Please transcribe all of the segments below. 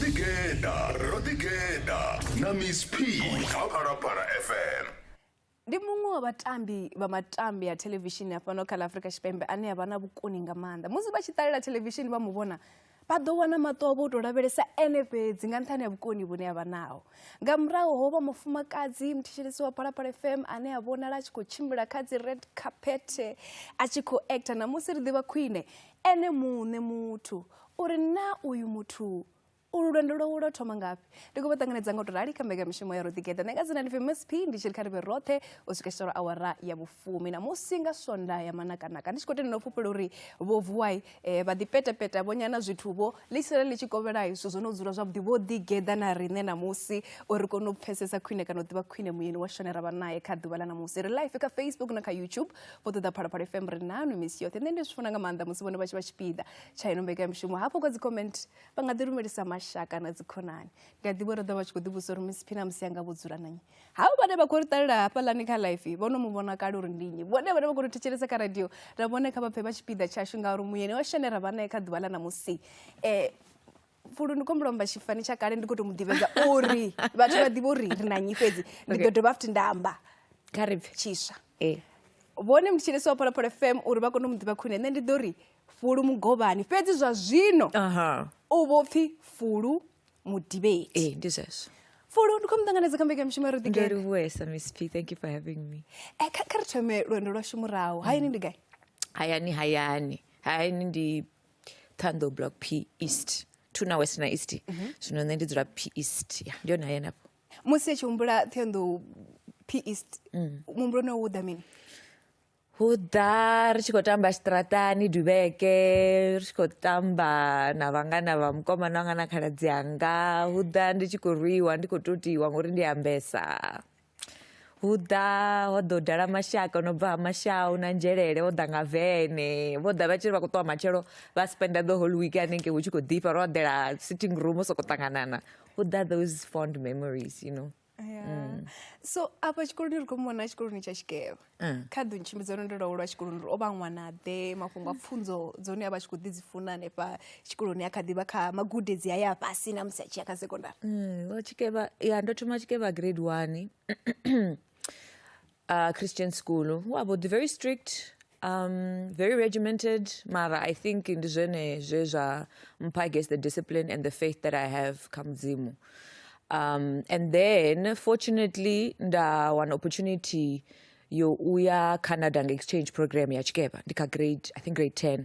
ḓigeḓa ro ḓigeḓa na miss p kha phalaphala fm ndi muṅwe wa vhatambi vha matambi a thelevishini a fhano kha ḽa afurika tshipembe ane a vha na vhukoni nga maanḓa musi vha tshi ṱalela thelevishini vha mu vhona vha ḓo wana maṱo avho o tou lavhelesa ene fhedzi nga nṱhani ha vhukoni vhune a vha naho nga murahu ho vha mufumakadzi muthishelesi wa phalaphala fm ane a vhonala a tshi khou tshimbila kha dzi red carpet a tshi khou actor na musi ri ḓivha khwine ene muṋe muthu uri na uyu muthu ulu lwendo lwawe lwa thoma ngafhi ndi khou vha ṱanganedza nga u tou rali kha mbekamishumo ya roḓigeḓa nṋe nga dzina ndi famous p ndi tshi ri kha ri vhe roṱhe u swika tshitoro awara ya vhufumi na musi nga swonda ya manakanaka ndi tshi khou tendela u fhufhela uri vho vuwai E, vha ḓi petepeta vho nyana zwithu vho ḽi sala ḽi tshi kovhela zwithu zwo no dzula zwavhuḓi vho ḓi geḓa na riṋe ṋamusi uri kone u pfesesa khwine kana u ḓivha khwine muyeni wa shone ra vha naye kha ḓuvha ḽa ṋamusi ri life kha facebook na kha youtube vho ṱoḓa phalaphala fm ri nanu misi yoṱhe nṋe ndi zwi funa nga maanḓa musi vhone vha tshi vha tshipiḓa tsha ino mbekamishumo hafho kha dzicomment vha nga ḓi lumelisa mashaka na dzikhonani ndi a ḓivha uri ḓo vha tshi khou ḓivhusa uri miss phina musi anga vho dzula nanyi havho vhane vha khou ri ṱalela hafhaḽani kha life vho no mu vhona kale uri ndi nnyi vhone vhane vha khou ri thetshelesa kha radio ra vhone kha vha pfhe vha tshipiḓa tshashu ngauri muyeni wa shane ra vha nae kha ḓuvha ḽa ṋamusi um fulu ndi khombo lomba tshifani tsha kale ndi khou tou mu ḓivhedza uri vhathu vha ḓivhe uri ri na nnyi fhedzi ndi ḓo dovha futhi nda amba kha ri pfhe tshiswa eh. vhone mutshilisi wa pholopolo fm uri vha kone u mu ḓivha khwine nṋe ndi ḓo ri fulu mugovhani fhedzi zwa zwino u vho pfhi fulu mu debate ee ndi zwezwo fulo ndi khou mu ṱanganedza kha mbekamishumo ya ro ndo ḓigere livhuesa miss p thank you for having me Eh, kha kha ri thome lwendo lwashu murahu hayani ndi gai hayani hayani hayani ndi thando block p east tuna west na east zwino nṋe ndi dzula p east ya ndi yone hayani afho musi a tshi humbula thondo p east muhumbuloni wawu u ḓa mini Hudha ri tshi khou tamba tshiṱaraṱani duvheke ri tshi khou tamba na vhangana vha mukomana wanga na khaladzi anga hudha ndi tshi khou rwiwa ndi khou totiwa ngori ndi ambesa hudha ho ḓo dala mashaka no bva ha mashau na nzhelele vho ḓa nga vene vho ḓa vha tshi ri vha khou ṱuwa matshelo vha spenda the whole week hanengei hu tshi khou ḓifha ro eḓela sitting room sokou ṱanganana hudha those fond memories you know Mm. so afha tshikoloni ri khou muvhona tshikoloni tsha tshikevha mm. kha ḓo ntshimbidza lwendo lwa ulwa tshikoloni uri o vha ṅwana ḓe mafhungo a mm. pfunzo dzone a vha tshi khou ḓi dzi funa hanefha tshikoloni a kha ḓivha kha magudedzi a ya fhasi na musi a tshi ya kha sekondari tshikevha ya ndo thoma tshikevha grade one uh, christian school wa vho ḓi very strict um, very regimented mara i think ndi zwene zwe zwa mpha guess the discipline and the faith that i have kha mudzimu um, and then fortunately nda wana opportunity yo uya canada nga exchange program ya tshikeva ndi kha grade i think grade 10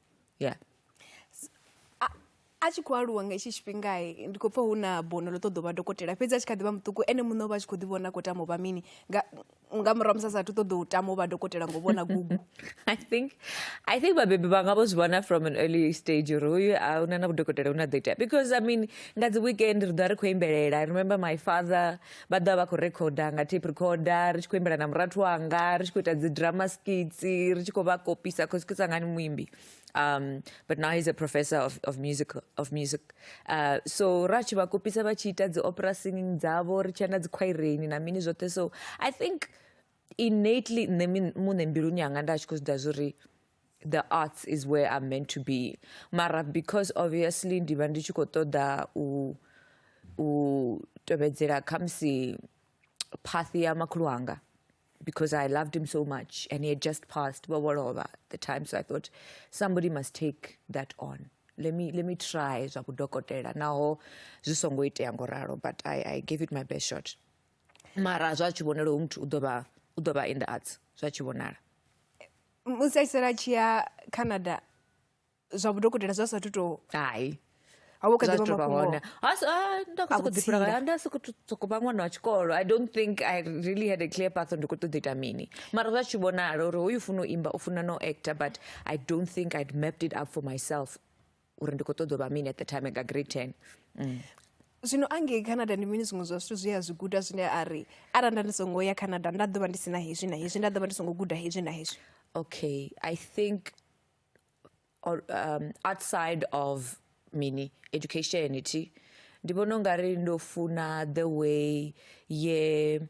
yeah a tshi khou aluwa nga hetshi tshifhinga ndi khou pfa hu na bono ḽo ṱoḓa u vha dokotela fhedzi a tshi kha ḓi vha muṱuku ene muṋe o vha a tshi khou ḓi vhona a khou tama u vha mini nga murahu musi a sathu ṱoḓa u tama u vha dokotela ngo vhona gugu i think i think vhabebi vha nga vho zwi vhona from an early stage uri hoyu a una na vhudokotela hune a ḓo itea because i mean nga dzi weekend ri ḓo vha ri khou imbelela i remember my father vha ḓovha vha khou rekhoda nga tape recorder ri tshi khou imbela na murathu wanga ri tshi khou ita dzi drama skits ri tshi khou vha kopisa cause ke sangani muimbi um but now he's a professor of, of music of music uh, so ra tshi vha kopisa vha tshi ita dzi opera singing dzavho ri tshi ya na dzi khwaireni na mini zwoṱhe so i think innately nṋe muṋe mbiluni yanga nda tshi khou zwi ḓa zwori the arts is where i'm meant to be mara because obviously ndi vha ndi tshi khou ṱoḓa u u tevhedzela khamusi path ya makhulu anga because i loved him so much and he had just passed vho lovha the time so i thought somebody must take that on let me, let me try zwa vhudokotela naho zwi songo itea ngo ralo but I, i gave it my best shot mara zwa tshi vhonala hu muthu u ḓo vha u ḓo vha in the arts zwa tshi vhonala musi a tshi sala a tshi ya canada zwa vhudokotela zwa sathu to hai hone ndasokotsokoba ṅwana wa tshikolo i don't think i really had a clear path ndi khou ṱoḓa ita mini mara zwa tshi vhonala uri hoyu funa u imba u funa no actor but i don't think i'd mapped it up for myself uri ndi khou ṱoḓa u vha mini at the time nga grade ten mm. zwino angei canada ndi mini zwiṅwe zwa zwithu zwi a zwi guda zwine a ri arali nda ndi songo ya canada nda ḓo vha ndi si na hezwi na hezwi nda ḓo vha ndi songo guda hezwi na hezwi okay i think or, um, outside of mini education ti ndi vhona ungari ndo funa the way ye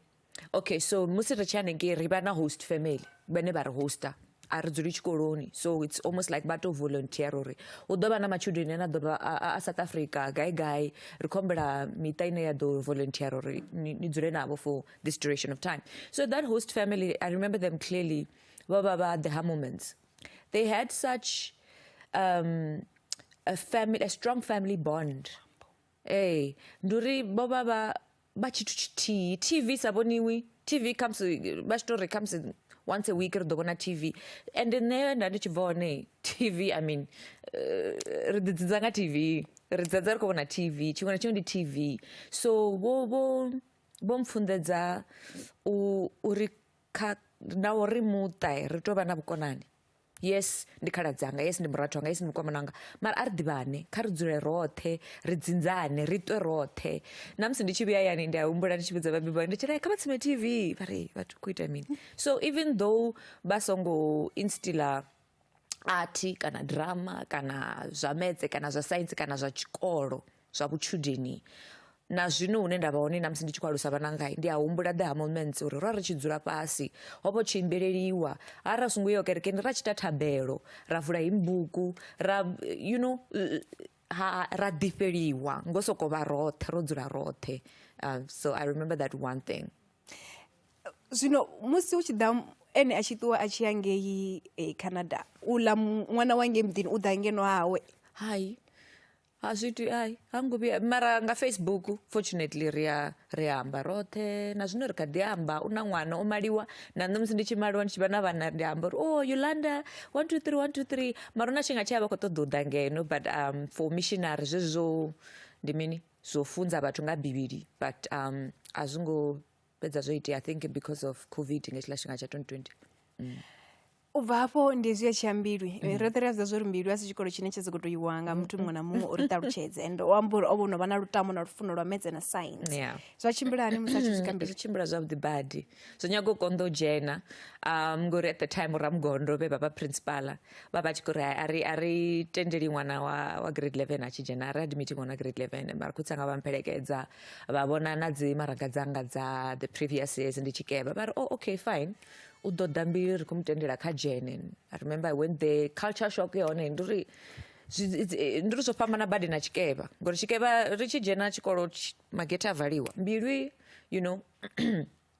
okay so musi ri tshi hanengei ri vha na host family vhane vha ri hoster a ri dzuli tshikoloni so it's almost like vha tou volunteer uri hu ḓo vha na matshudeni ane a ḓovha a south africa gai gai ri khou humbela miṱa ine ya ḓo volunteer uri ni dzule navho for this duration of time so that host family i remember them clearly vho vha vha the ha moments they had such um, a, family, a strong family bond ee ndi uri vho vha vha vha tshithu tshithihi tv i sa vhoniwi tv khamusi vha tshi to ri khamusi once a week ri ḓo vhona tv and nṋe nda ndi tshi bva hone tv i mean eh, ri ḓi dzidza nga tv ri dzedza ri khou vhona tv tshiṅwe na tshiṅwe ndi tv so vho vho vho mpfunḓedza u uri kha na uri muṱa ri tou vha na vhukonani yes ndi khaladzi anga yes ndi murathu anga yes ndi mukomana wanga mara a ri ḓivhane kha ri dzule roṱhe ri dzinzane ri ṱwe roṱhe na musi ndi tshi vhuya yani ndi a humbula ndi tshi vhudza vhabebi vhanga ndi tshi ri kha vha tsime tv vha ri vhathu khou ita mini so even though vha songo instiller art kana drama kana zwa metse kana zwa science kana zwa tshikolo zwa vhutshudeni na zwino hune nda vha hone na musi ndi tshi khou alusa vhananga ndi a humbula the ha moments uri ro ri tshi dzula fhasi ho vho tshi imbeleliwa ha ra songo yo kerekeni ra tshi ta thabelo ra vula hi mbuku ra you know ha ra ḓifheliwa ngo sokou vha roṱhe ro dzula roṱhe uh, so i remember that one thing zwino musi hu tshi ḓa ene a tshi ṱuwa a tshi ya ngei eh, canada u ḽa ṅwana wa ngei muḓini u ḓa ngeno hawe hai a zwithu ai ha ngo vhuya mara nga facebook fortunately ri a ri amba roṱhe na zwino ri kha ḓi amba u na ṅwana o maliwa na nṋe musi ndi tshi maliwa ndi tshi vha na vhana ndi amba uri oh yolanda one two three one two three mara hu na tshifhinga tshi a vha khou ṱoḓa u ḓa ngeno but um for missionary zwezwi zwo ndi mini zwo funza vhathu nga bivhili but um a zwi ngo fhedza zwo itea i think because of covid nga hetshiḽa tshifhinga tsha 2020 mm. u bva hafho ndi zwi a tshi ya mbilwi mm. Eh, roṱhe ri a zwi zwa uri mbilwi a si tshikolo tshine tsha soko to iwa nga muthu muṅwe na muṅwe uri ṱalutshedze and o amba uri o vho no vha na lutamo na lufuno lwa medze na science yeah. zwa tshimbila hani musi a tshi swika zwi tshimbila zwavhuḓi badi zwo nyaga u konḓa u dzhena um ngori at the time ramugondo vhe vha vha principala vha vha tshi kho ri a ri a ri tendeli ṅwana wa wa grade 11 a tshi dzhena a ri admiti ṅwana wa grade 11 mara khutsi anga vha mpelekedza vha vhona na dzi maraga dzanga dza the previous years ndi tshikeva vha ri oh okay fine u ḓo ḓa mbili ri khou mu tendela kha dzhene i remember when the culture shock ya hone ndi uri eh, ndi ri zwo fhambana badi na tshikeva ngori tshikeva ri tshi dzhena tshikolo magete a valiwa mbilwi you know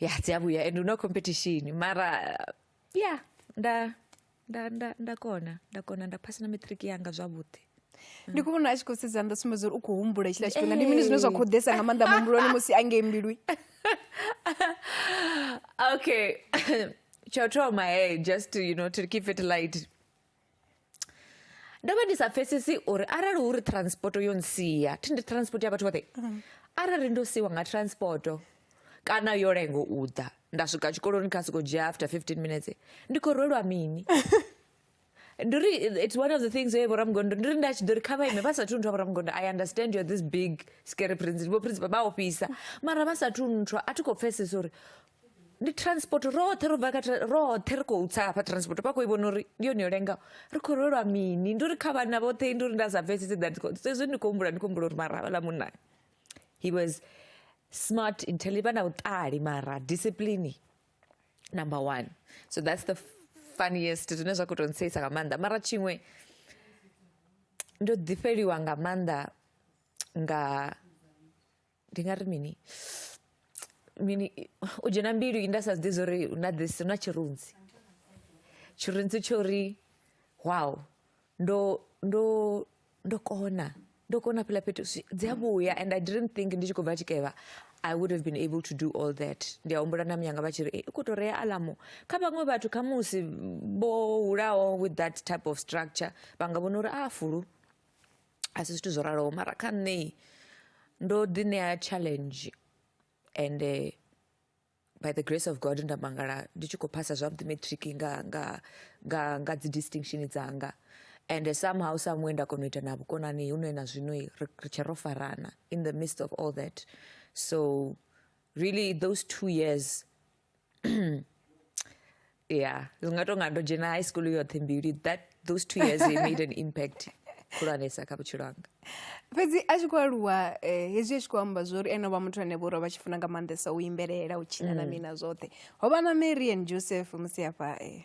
ya dzi a vhuya and hu na competition mara ya nda nda nda nda kona nda kona nda phasa na matric yanga zwavhuḓi ndi khou vhona a tshi khou sedza nda sumbedza uri u khou humbula hetshiḽa tshifhinga ndi mini zwine zwa khou ḓesa nga maanḓa muhumbuloni musi a ngei mbilwi okay tsha u thoma hey just to, you know to keep it light ndo vha ndi sa pfesesi uri arali hu ri transport yo nsia thi ndi transport ya vhathu vhoṱhe mm. arali ndo siwa nga transport kana yo lengo u ḓa nda swika tshikoloni kha siko dzhia after 15 minutes ndi khou rwelwa mini ndi ri it's one of the things ye vhoramugondo ndi ri nda tshi ḓo ri kha vha ime vha sathu nthwa vhoramugondo i understand you're this big scary prince vho prince vha ofhisa mara vha sathu nthwa a thi khou pfesesa uri ndi transport roṱhe ro bva kha tra- roṱhe ri khou tsa hafha transport vha khou i vhona uri ndi yone yo lengaho ri khou lwelwa mini ndi uri kha vhana vhoṱhe ndi uri nda sa pfesese that zwezwi ndi khou humbula ndi khou humbula uri mara havhala munna he was smart intelligent vha na vhuṱali mara discipline number one so that's the funniest zwine zwa khou tou ntseyisa nga maanḓa mara tshiṅwe ndo ḓifheliwa nga maanḓa nga ndi nga ri mini mini u dzhena mbilu nda sa zwiḓi zwori na this na tshirunzi tshirunzi tsho ri wow ndo ndo ndo kona ndo kona fhiḽa fhethu dzi a vhuya and i didn't think ndi tshi khou bva tshikevha i would have been able to do all that ndi a humbula na muyanga vha tshi ri u khou tou rea alamu kha vhaṅwe vhathu kha musi vho hulaho with that type of structure vha nga vhona uri a fulu a si zwithu zwo raloho mara kha nṋe ndo ḓi ṋea challenge ende by the grace of God nda mangala ndi tshi khou phasa zwavhuḓi matric nga nga nga nga dzi distinction dzanga and somehow somewhere nda kona u ita na vhukonani hune na zwino ri tshe ro farana in the midst of all that so really those two years yeah zwi nga tonga ndo dzhena high school yoṱhe mbili that those two years they made an impact khulwanesa kha vhutshilo hanga fhedzi a tshi khou aluwa eh, hezwi a tshi khou amba zwo uri ene vha muthu ane vho uri vha tshi funa nga maanḓesa u imbelela u tshina na mm. mina zwoṱhe ho vha na marian joseph musi hafha eh,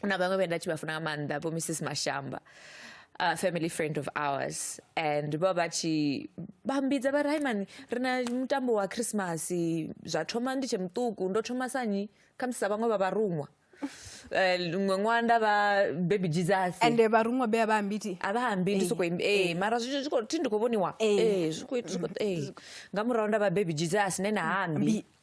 hu na vhaṅwe vhe nda tshi vha funa nga maanḓa vho mrs mashamba a family friend of ours and vho vha tshi vha mbidza vha ri hai mani ri na mutambo wa christmas zwa thoma ndi tshe muṱuku ndo thoma sanyi khamusi sa vhaṅwe vha vharuṅwa eh, ṅwe ṅwaha nda vha baby jesus ende vharuṅwa be a vha ambiti a vha ambi ndi soko ee mara zwi zwi khou thi ndi khou vhoniwa Eh. ee zwi khou zwi khou ee nga murahu nda vha baby jesus ne na ambi Ambi.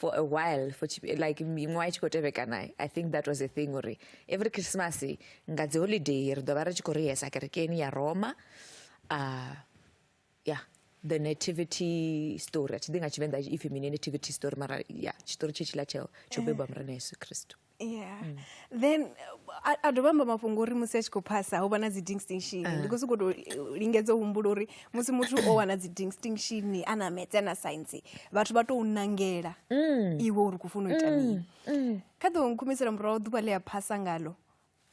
for a while for like miṅwaha i tshi khou tevhekana i think that was a thing uri every christmas nga dzi holiday ri ḓo vha ri tshi khou rehesa kerekeni ya roma uh, yeah the nativity story a thi ḓi nga tshivenḓa ipfhi mini nativity story mara ya tshitori tshe tshila tsheo tsho bebwa murena yesu kristu yeah mm. then a, a dovha amba mafhungo uri musi a tshi khou phasa ho vha na dzi distinction uh. ndi khou sokou tou eh, lingedza u humbula uri musi muthu o wana dzi distinction a na metse na science vhathu vha tou nangela mm. iwe uri kufuna u ita mm. mini mm. kha ḓo nkhumisela murahu ḓuvha ḽi a phasa ngalo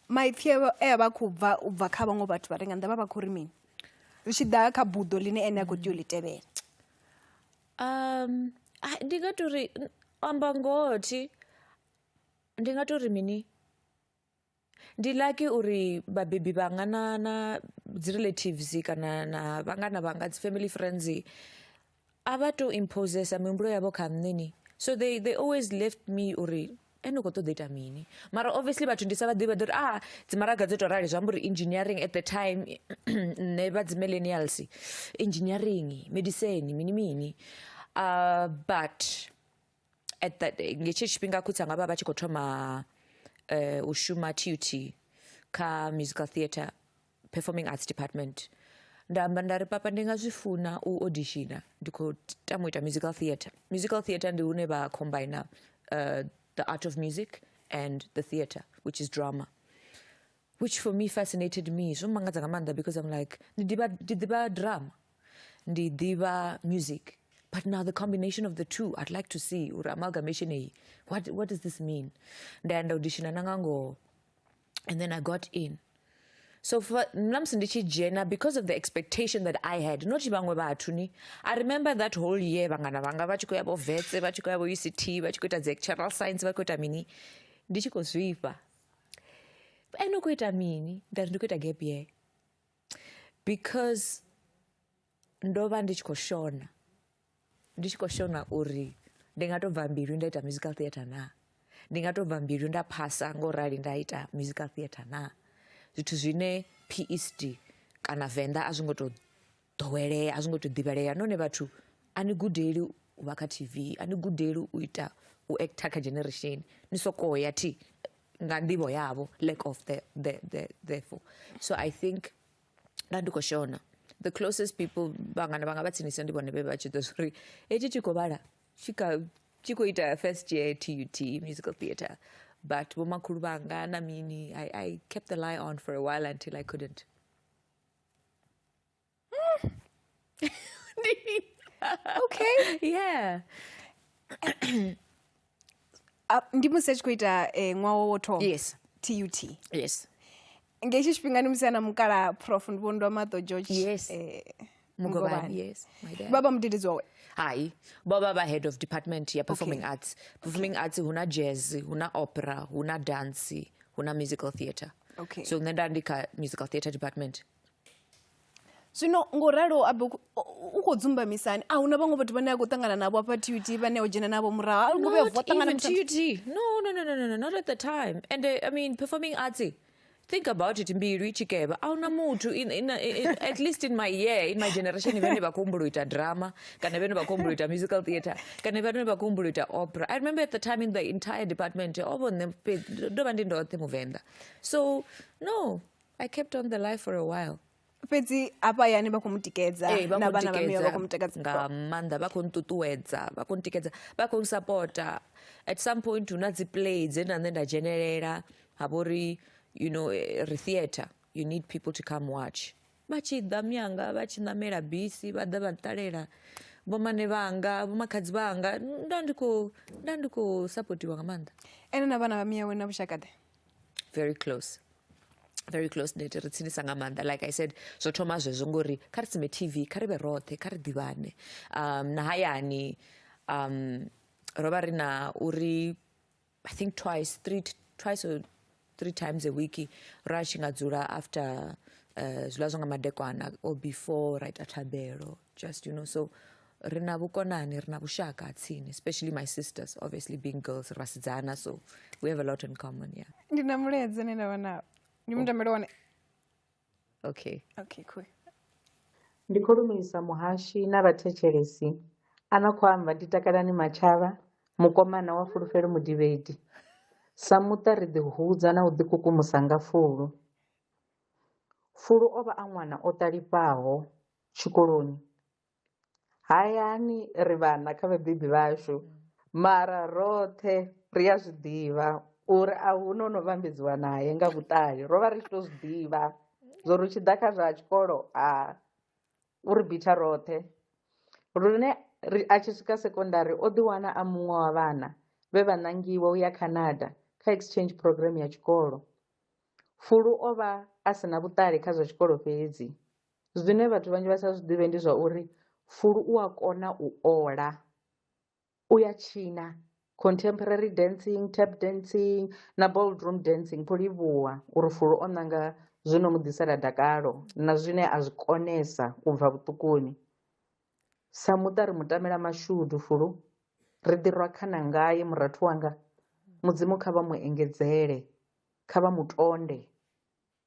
maipfi e a vha khou bva u bva kha vhaṅwe vhathu vha re nga nnḓa vha vha khou ri mini zwi tshi ḓa kha buḓo ḽine ene a khou tea u ḽi tevhela Ndi nga tou ri, u amba ngoho thi, ndi nga tou ri mini, ndi lucky uri vhabebi vhanga na na dzi relatives kana na vhangana vhanga dzi family friends a vha tu imposer mihumbulo yavho kha nṋe ni, so they they always left me uri. e ni khou ṱoḓa ita mini mara obviously vhathu ndi sa vha ḓivha ḓo uri a dzimaraga dzo tou rali zwi amba uri engineering at the time nṋe vha dzi millennials engineering medicine mini mini uh, but at that nge tshetsho tshifhinga khutsi anga vha vha tshi khou thoma uh, u shuma tut kha musical theatre performing arts department nda amba nda ri papa ndi nga zwi funa u auditiona ndi khou tama u ita musical theatre musical theatre ndi hune vha combine uh, the art of music and the theatre which is drama which for me fascinated me zwo mangadza nga maanḓa because i'm like ndi ḓivha ndi ḓivha drama ndi ḓivha music but now the combination of the two i'd like to see uri amalgamation eyi what, what does this mean nda ya nda auditiona na nga ngoho and then i got in so namusi ndi tshi dzhena because of the expectation that i had not vhaṅwe vhathu ni i remember that whole year vhangana vhanga vha tshi khou ya vho vetse vha tshi khou ya vho uct vha tshi khou ita dzi actual science vha khou ita mini ndi tshi khou zwifha ene u khou ita mini nda ri ndi khou ita gap year because ndo vha ndi tshi khou shona ndi tshi khou shona uri ndi nga tou bva mbilu nda ita musical theatre naa ndi nga tou bva mbilu nda phasa ngo rali nda ita musical theatre naa zwithu zwine PSD kana Venḓa a zwi ngo tou ḓowelea a zwi ngo tou ḓivhelea nahone vhathu a ni gudeli u vha kha T_V a ni gudeli u ita u actor kha generation ni sokou ya thi nga nḓivho yavho lack of the the the therefore so I think nda ndi khou shona the closest people vhangana vhanga vha tsinisa ndi vhone vhe vha tshi ḓo uri hetshi tshi khou vhala tshi kha tshi khou ita first year tut musical theatre but vhomakhulu vhanga na mini I, i kept the lie on for a while until i couldn't okay yeah Ah, ndi musi a tshi khou ita eh, ṅwaha wo thoma yes tut yes nga hetshi tshifhinga ndi musi ana mukala prof ndi vhondwa maṱo george Yes. eh, Mugobani. Mugobani, yes my dad vha vha mudededzi wawe hayi baba vha head of department ya performing Okay. arts performing arts huna jazz huna opera huna dance huna musical theatre Okay. so nṋe nda ndi kha musical theatre department zwino ngo ralo abe u khou dzumbamisani a huna vhaṅwe vhathu vhane a khou ṱangana navho afha tut vhane o dzhena navho murahu a luguvhe vo ṱangana no no no no no not at the time and uh, i mean performing arts think about it mbilu i tshi kevha a huna muthu at least in my year in my generation vhane vha khou humbula u ita drama kana vhane vha khou humbula u ita musical theatre kana vhane vha khou humbula u ita opera i remember at the time in the entire department ovo nṋe ndo vha ndi ndoṱhe muvenḓa so no I kept on the lie for a while. fhedzi hafha hayani vha khou mu tikedza Ee, vha na khou vhana vha miwe vha khou mu ntikedza nga takadza maanḓa vha khou nṱuṱuwedza vha khou ntikedza vha khou nsapota at some point hu na dzi play dze na nṋe nda dzhenelela ha vha uri you know eh, ri theatre you need people to come watch vha tshi ḓa myanga vha tshi ṋamela bisi vha ḓa vha ṱalela vhomane vhanga vhomakhadzi vhanga nda ndi khou nda ndi khou sapotiwa nga maanḓa ene na vhana vha miyawe na vhushakaḓe very close very close net ri tsinisa nga maanḓa like i said zwo thoma zwezwo ngori kha ri tsime tv kha ri vhe roṱhe kha ri ḓivhane um na hayani um ro vha ri na uri i think twice three twice or three times a week ra tshi nga dzula after uh, zwiḽa zwa nga madekwana or before ra ita thabelo just you know so ri na vhukonani ri na vhushaka ha tsini especially my sisters obviously being girls ri vhasidzana so we have a lot in common yeah ndi na mulaedza ne nda vha nao ndi mutambele wone okay okay cool ndi khou lumelisa muhashi na vhathetshelesi a no khou amba ndi takalani matshava mukomana wa fulufhelo mudivhedi sa muṱa ri ḓihudza na u ḓikukumusa nga fulu fulu o vha a ṅwana o ṱalifhaho tshikoloni Hayani ri vhana kha vhabebi vhashu mara roṱhe ri a zwi ḓivha uri a hu no no vhambedziwa naye nga vhuṱali ro vha ri tshi to zwi ḓivha zwo ri tshi ḓa kha zwa tshikolo a u ri bitha roṱhe lune ri a tshi swika sekondari o ḓi wana a muṅwe wa vhana vhe vha ṋangiwa u ya Canada kha exchange programm ya tshikolo Fulu o vha a si na vhuṱali kha zwa tshikolo fhedzi Zwine vhathu vhanzhi vha sa zwiḓivhe ndi zwa uri fulu u a kona u ola u ya tshina contemporary dancing, tap dancing na bold room dancing kho livhuwa uri fulu o nanga zwino mu ḓisela dakalo na zwine a zwi konesa u bva vhuṱukuni sa muṱa ri mu tamela mashudu fulu ri ḓi rwa khana ngae murathu wanga mudzimu kha vha mu engedzele kha vha mu tonde.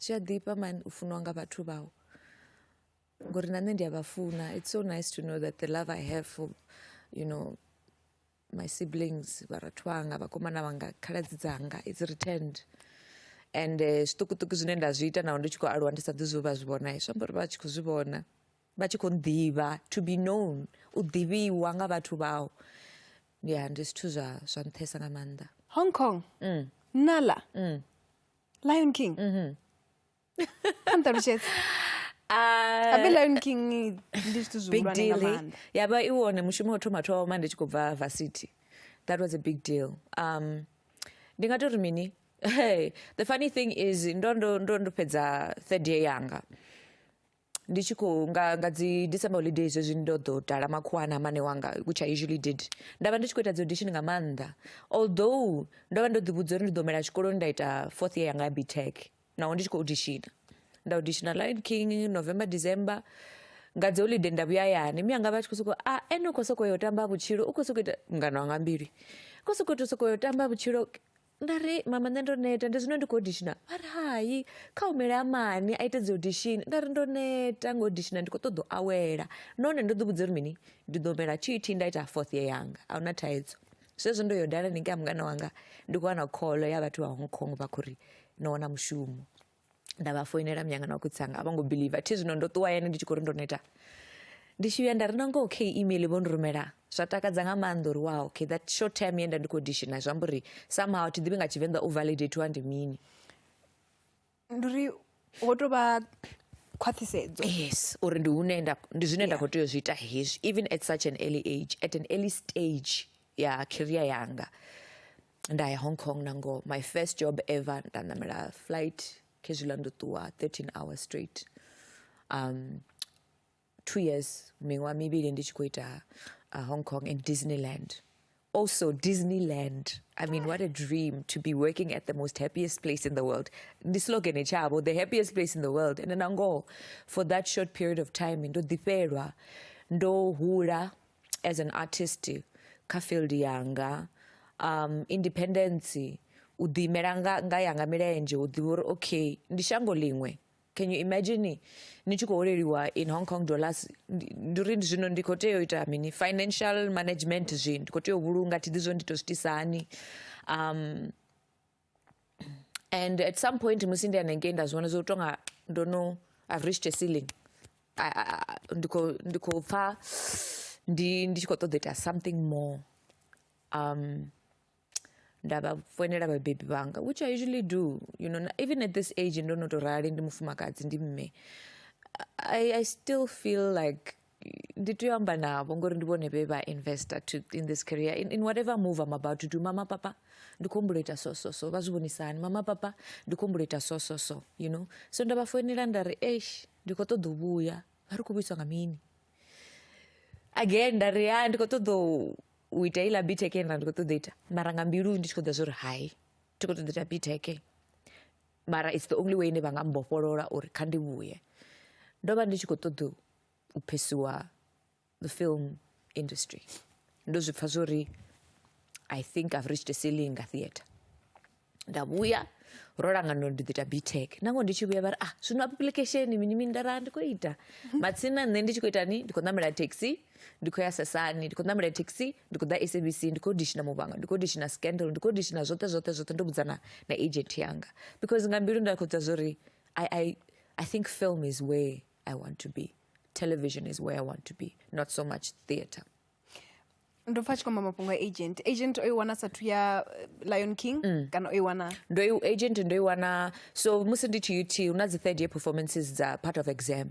Zwi a ḓifha man u funiwa nga vhathu vhau ngori na nṋe ndi a vha funa it's so nice to know that the love I have for you know my siblings vharathu vhanga vhakomana vhanga khaladzi dzanga it's returned and zwiṱukuṱuku zwine nda zwi ita naho ndi tshi khou aluwa ndi sa ḓi zwi vha zwi vhona zwi amba uri vha tshi khou zwi vhona vha tshi khou ḓivha to be known u ḓivhiwa nga vhathu vhau ya ndi zwithu zwa zwa nṱhesa nga maanḓa Hong Kong mm. Nala mm. Lion King kha nṱalutshedze Ah, abe Lion King ndi zwithu big zwihulwane deal nga eh? maanḓa ya vha i wone mushumo wa u thoma thoma ndi tshi khou bva varsity that was a big deal um ndi nga tori mini hey, the funny thing is ndo ndo ndo ndo fhedza third year yanga ndi tshi khou nga nga dzi december holiday zwezwi ndo ḓo dala makhuwa a na mane wanga which i usually did nda vha ndi tshi khou ita dzi audition nga maanḓa although ndo vha ndo ḓivhudza uri ndi ḓo mela tshikoloni nda ita fourth year yanga ya btech naho ndi tshi khou auditiona nda auditiona lion king november december nga dzi holiday nda vhuya hayani mi anga vha tshi khou sokou a ah, ene u khou sokou yo tamba vhutshilo u khou sokou ita mngano wanga mbili u khou sokou tou sokou yo tamba vhutshilo nda ri mama nṋe ndo neta ndi zwino ndi khou odishina vha ri hai kha humele a mani a ite dzi audition nda ri ndo neta nga odishina ndi khou ṱoḓa u awela nahone ndo ḓi vhudza uri mini ndi ḓo humela tt nda ita fourth year yanga a huna thaidzo zwezwo ndo yo dala ningea mungana wanga ndi khou wana kholo ya vhathu vha hong kong vha khou ri no wana mushumo nda vha foinela myanga na khotsi anga a vho ngo believe thi zwino ndo ṱuwa hayani ndi tshi khou ri ndo neta ndi tshi vhuya nda ri nangoho kha email vho ndi rumela zwa takadza nga maanḓa uri wow okay that short term ye nda ndi khou dishina zwi amba uri somehow thi ḓivhi nga tshivenḓa u validatiwa ndi mini ndi uri ho tou vha khwaṱhisedzo yes uri ndi hune nda ndi zwine nda khou tea u zwi ita hezwi even at such an early age at an early stage ya career yanga nda ya hong kong na ngoho my first job ever nda ṋamela flight khezwiḽa ndo ṱuwa 13 hours straight um two years miṅwaha mivhili ndi tshi khou ita uh, hong kong and disneyland also disneyland i mean what a dream to be working at the most happiest place in the world ndi slogan etshavho the happiest place in the world and na ngoho for that short period of time ndo ḓifhelwa ndo hula as an artist kha field yanga um independence u ḓi imela nga nga yanga milenzhe u ḓivha uri okay ndi shango ḽiṅwe can you imagine ni tshi khou holeliwa in hong kong dollars ndi uri zwino ndi khou tea u ita mini financial management zwi ndi khou tea u vhulunga thi ḓi zwo ndi to zwitisa hani um and at some point musi ndi hanengei nda zwi vhona zwo tonga ndo no i've reached a ceiling ndi khou ndi khou pfha ndi ndi tshi khou ṱoḓa ita something more um nda vha foinela vhabebi vhanga which i usually do you know even at this age ndo no tou rali ndi mufumakadzi ndi mme I, I still feel like ndi tea u amba navho ngori ndi vhone vhe vha investor to, in this career in, in whatever move I'm about to do mama papa ndi khou humbula ita so so so vha zwi vhonisa hani mama papa ndi khou humbula ita so so so you know so nda vha foinela nda ri eish ndi khou ṱoḓa u vhuya vha ri khou vhuiswa nga mini again nda ri ya ndi khou ṱoḓa u ita iḽa biteke nda ndi khou ṱoḓa ita mara nga mbilu ndi tshi khou ḓa zwo ri hai ndi khou ṱoḓa ita biteke mara it's the only way ine vha nga mbofholola uri kha ndi vhuye ndo vha ndi tshi khou ṱoḓa u phesiwa the film industry ndo zwi pfha zwori i think i've reached a ceiling nga theatre nda vhuya ro langana ndi ḓo ita btec nango ndi tshi vhuya vha ri ah zwino application mini mini ndara ndi khou ita matsina nṋe ndi tshi khou ita ni ndi khou ṋamela taxi ndi khou ya sesani ndi khou ṋamela thekhisi ndi khou ḓa sabc ndi khou dishina muvhanga ndi khou dishina scandal ndi khou dishina zwoṱhe zwoṱhe zwoṱhe ndo vhudzana na agent yanga because nga mbilu nda khou dza zwa uri I, I, i think film is where i want to be television is where i want to be not so much theatre ndo pfa tshi kwamba mafhungo a agent agent o i wana sathu ya eh, lion king mm. kana o i wana ndo agent ndo i wana so musi ndi tshi ut hu na dzi third year performances dza part of exam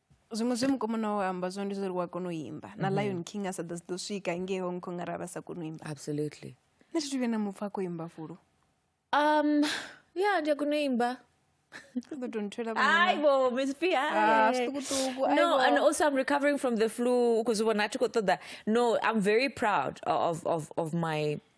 Zwiṅwe zwe mukomana wawe a amba zwone ndi zwa uri u a kona u imba na mm-hmm. Lion King a sa ḓo ḓo swika ngei Hong Kong arali vha sa koni u imba absolutely nṋe thi thu vhuya na mupfa a khou imba fulu um ya ndi a kona u imba aibo miss p ah, no and also i'm recovering from the flu u khou zwi vhona a thi khou ṱoḓa no i'm very proud of, of, of my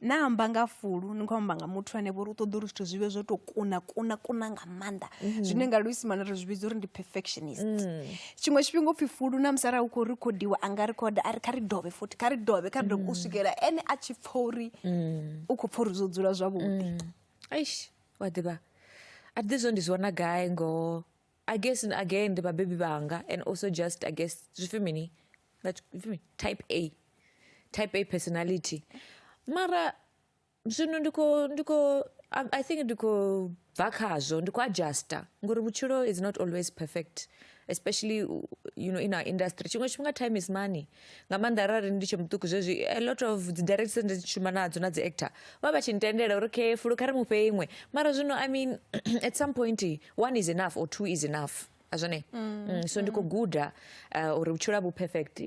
na amba nga fulu ni khou amba nga muthu ane vho uri u ṱoḓa uri zwithu zwi vhe zwo tou kuna kuna kuna nga maanḓa mhm. zwine nga luisimane ri zwi vhidza uri ndi perfectionist mm. tshiṅwe tshifhinga upfhi fulu na musi arali u khou rekhodiwa a nga rekhoda a ri kha ri dovhe futhi kha ri dovhe kha ri dovhe u mm. swikela ene a tshi pfha uri mm. u khou pfha uri zwo dzula zwavhuḓi aish wa ḓivha a ḓi zwo ndi zwi wana gai ngoho against and again ndi vhabebi vhanga and also just against zwipfi mini type a type a personality mara zwino ndi khou ndi khou i think ndi khou bva khazwo ndi khou adjuster ngori vhutshilo is not always perfect especially you know in our industry tshiṅwe tshifhinga time is money nga maanḓa arali ndi tshe muṱuku zwezwi a lot of dzi directors ndi dzi shuma nadzo na dzi actor vha vha tshi ntendela uri okay fulu kha ri mu fhe iṅwe mara zwino i mean at some point one is enough or two is enough a zwone mm, mm, so ndi khou mm. guda uh, uri vhutshilo vhu perfect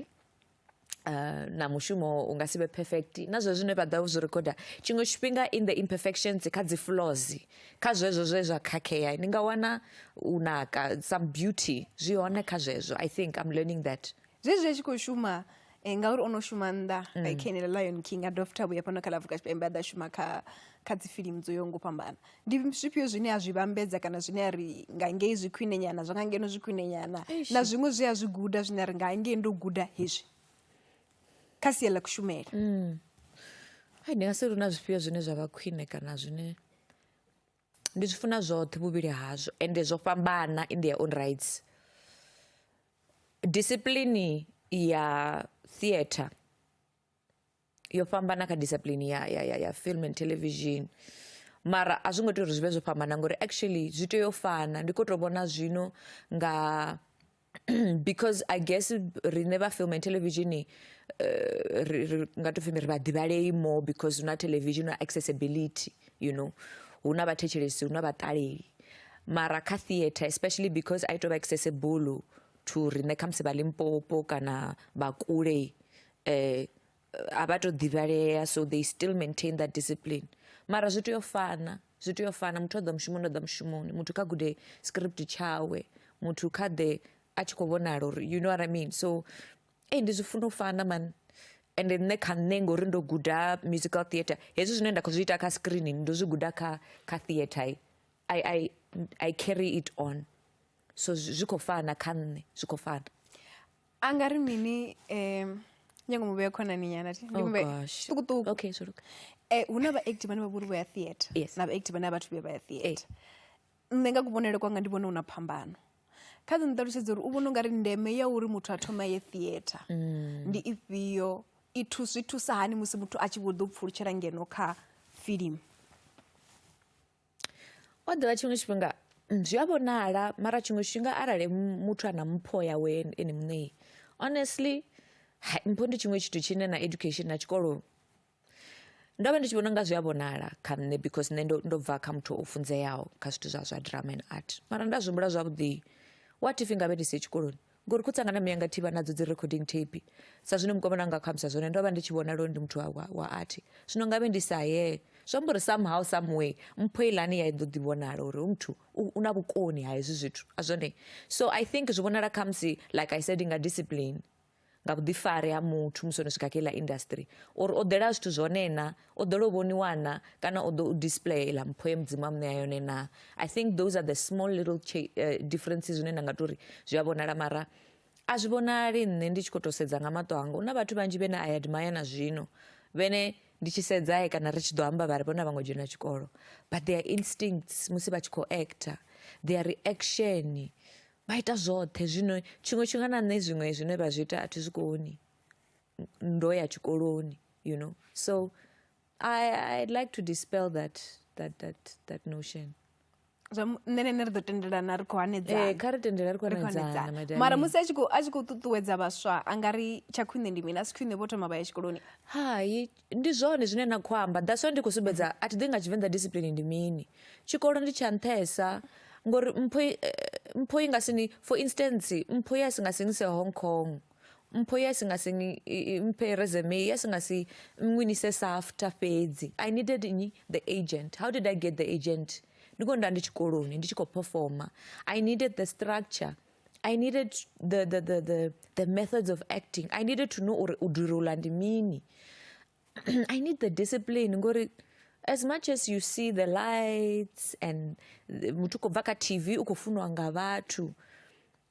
Uh, na mushumo u nga si vhe perfect na zwe zwine vha ḓa zwi recorda tshiṅwe tshifhinga in the imperfections kha dzi flaws kha zwezwo zwe zwa khakhea ni nga wana u naka some beauty zwi hone kha zwezwo i think i'm learning that zwezwi a tshi khou shuma eh, ngauri o no shuma nnḓa mm. like kha enela lion king a dovha futhi a vhuya fhano kha lavuka tshipembe a ḓa shuma kha kha dzifilimu dzo yaho ngo fhambana ndi zwifhio zwine a zwi vhambedza kana zwine a ri nga ngei zwi khwine nyana zwa nga ngeno zwi khwine nyana na zwiṅwe zwi a zwi guda zwine a ri nga ngei ndo guda hezwi kha sia ḽa kushumele mm. ndi nga si lu na zwifhio zwine zwa vha khwine kana zwine Ndi zwi funa zwoṱhe vhuvhili hazwo ende zwo fhambana in their own rights. Discipline ya theatre yo fhambana kha discipline ya ya ya ya film and television mara a zwi ngo tea uri zwi vhe zwo fhambana ngori actually zwi tea u fana ndi kho to vhona zwino nga because i guess riṋe vha film and television uh, ri nga to pfhi ri vha ḓivhalei more because hu na television na accessibility you know hu na vhathetshelesi hu na vhaṱaleli mara kha theatre especially because i to vha accessible to riṋe khamusi vha limpopo kana vha kule um a vha to ḓivhalea so they still maintain that discipline mara zwi tea u fana zwi tea u fana muthu o ḓa mushumoni o ḓa mushumoni muthu kha gude script tshawe muthu kha ḓe a tshi khou vhonala uri you know what i mean so ei ndi zwi funa u fana mani and nṋe kha nṋe ngori ndo guda musical theatre hezwi zwine nda khou zwi ita kha screen ndo zwi guda kha kha theatre i i i carry it on so zwi khou fana kha nṋe zwi khou fana a nga ri mini um nyango mu vhea khonani nyana thi ndi Oh, mu vhea gosh. ṱukuṱuku okay zwo luga Eh, hu na vhaacti vhane vha vhori vho ya theatre Yes. na vhaacti vhane a vhathu vhuya vha ya theatre nṋe nga kuvhonele kwanga ndi vhona hu na phambano kha ḓi nṱalutshedza uri u vhona ungari ndeme ya uri muthu a thoma ye theatre ndi ifhio i thu- zwi thusa hani musi muthu a tshi vho ḓo pfulutshela ngeno kha filimu O ḓivha tshiṅwe tshifhinga zwi a vhonala mara tshiṅwe tshifhinga arali muthu a na mpho yawe ene muṋei honestly mpho ndi tshiṅwe tshithu tshine na education na tshikolo ndo vha ndi tshi vhona unga zwi a vhonala kha nṋe because nṋe ndo ndo bva kha muthu o funzeaho kha zwithu zwa zwa drama and art mara nda zwi humbula zwavhuḓi what if ngavhe ndi siho tshikoloni. ngori khotsi anga na mme anga thi vha nadzo dzi recording tape sa zwino mukomana anga kho ambisa zwone ndo vha ndi tshi vhona lwo ndi muthu wa, wa, wa athi zwino ngavhe ndi sa ye zwi amba uri somehow some way mpho ilani ya i ḓo ḓi vhonala uri u muthu u u na vhukoni ha hezwi zwithu a zwone so i think zwi vhonala khamusi like i said nga discipline nga vhuḓifari ha muthu musi o no swika kha iḽa industry uri o ḓela zwithu zwone na o ḓo lo vhoniwa na kana o ḓo u display iḽa mpho ye mudzimu a muṋea yone na i think those are the small little uh, differences zwine nda nga to ri zwi a vhonala mara a zwi vhonali nṋe ndi tshi khou tou sedza nga maṱo anga hu na vhathu vhanzhi vhene a admire na zwino vhene ndi tshi sedzae eh, kana ri tshi ḓo amba vha ri vhona vha ngo dzhena tshikolo but their instincts musi vha tshi khou actor their reaction vha ita zwoṱhe zwino tshiṅwe tshifhinga na nṋe zwiṅwe zwine vha zwi ita a thi zwi koni ndo ya tshikoloni you know so I, i'd like to dispel that that that that notion zwa mu- nṋe na ene ri ḓo tendelana ri khou hanedzana Eh, kha ri tendela ri khou Ri khou hanedzana, hanedzana. madame. mara musi a tshi khou- a tshi khou ṱuṱuwedza vhaswa a nga ri tsha khwine ndi mini a si khwine vho thoma vha ya tshikoloni hai ndi zwone zwine na khou amba that's why ndi khou sumbedza a thi ḓi nga tshivenḓa discipline ndi mini tshikolo ndi tsha nṱhesa ngori mpho i- eh, mpho i nga sini for instance mpho ya si nga sinise hong kong Mpho ye a si nga si mphe resume, ye a si nga si nngwinise SAFTA fhedzi. I needed nnyi? The agent. How did I get the agent? Ndi khou nda ndi tshikoloni, ndi tshi khou performa. I needed the structure. I needed the, the, the, the, the methods of acting. I needed to know uri u durula ndi mini. I need the discipline ngori as much as you see the lights and muthu khou bva kha tv u khou funiwa nga vhathu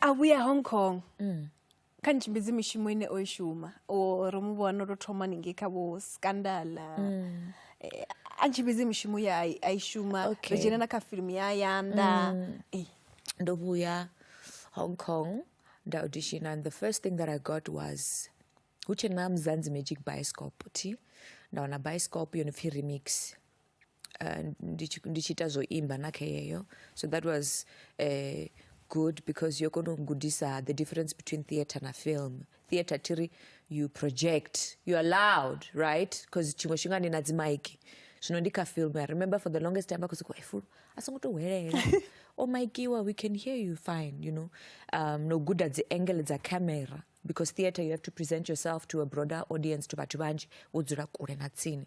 a vhuya hong kong mm. kha ni tshimbidzi mishumo ine o i shuma o ri mu vhona ro thoma ningei kha vho scandala mm. eh, a tshimbidzi mishumo ya a i shuma okay. ri dzhena na kha filimu ya yanda mm. eh. ndo vhuya hong kong nda audition and the first thing that i got was hu tshena mzanzi magic bioscope ti nda wana bioscope yo no pfi remix ndi tshi ndi tshi ita zwa u imba na kha yeyo so that was good because yo kona u gudisa the difference between theatre na film theatre thi ri you project you are loud right because tshiṅwe tshifhinga ni na dzi maiki zwino ndi kha film i remember for the longest time vha khou sokou efulo a songo tou hwelela o maikiwa we can hear you fine you know um, no guda dzi angle dza camera because theatre you have to present yourself to a broader audience to vhathu vhanzhi wo dzula kule na tsini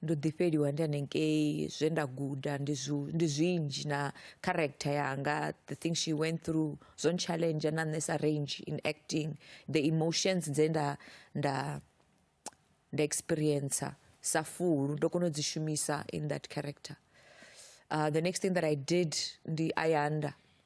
Ndo ḓi fheliwa ndi hanengei zwe nda guda ndi zwi ndi zwinzhi na character yanga the thing she went through zwo ntshaḽenzha na nṋe sa range in acting the emotions dze nda nda nda experience sa fulu ndo kona u dzi shumisa in that character the next thing that I did ndi Ayanda.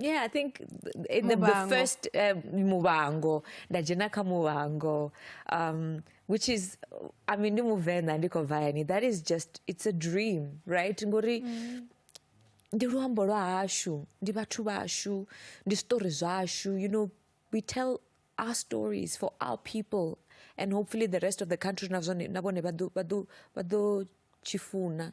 Yeah, I think in the, the Mubango. first uh, mubango ndajena ka mubango um, which is I mean ndi muvenda ndiko vayani that is just it's a dream right ngori ndi luambo lwa hashu ndi vhathu vashu ndi story zwashu you know we tell our stories for our people and hopefully the rest of the country na zwone- na vhone vha ḓo- vha ḓo- vha ḓo tshi funa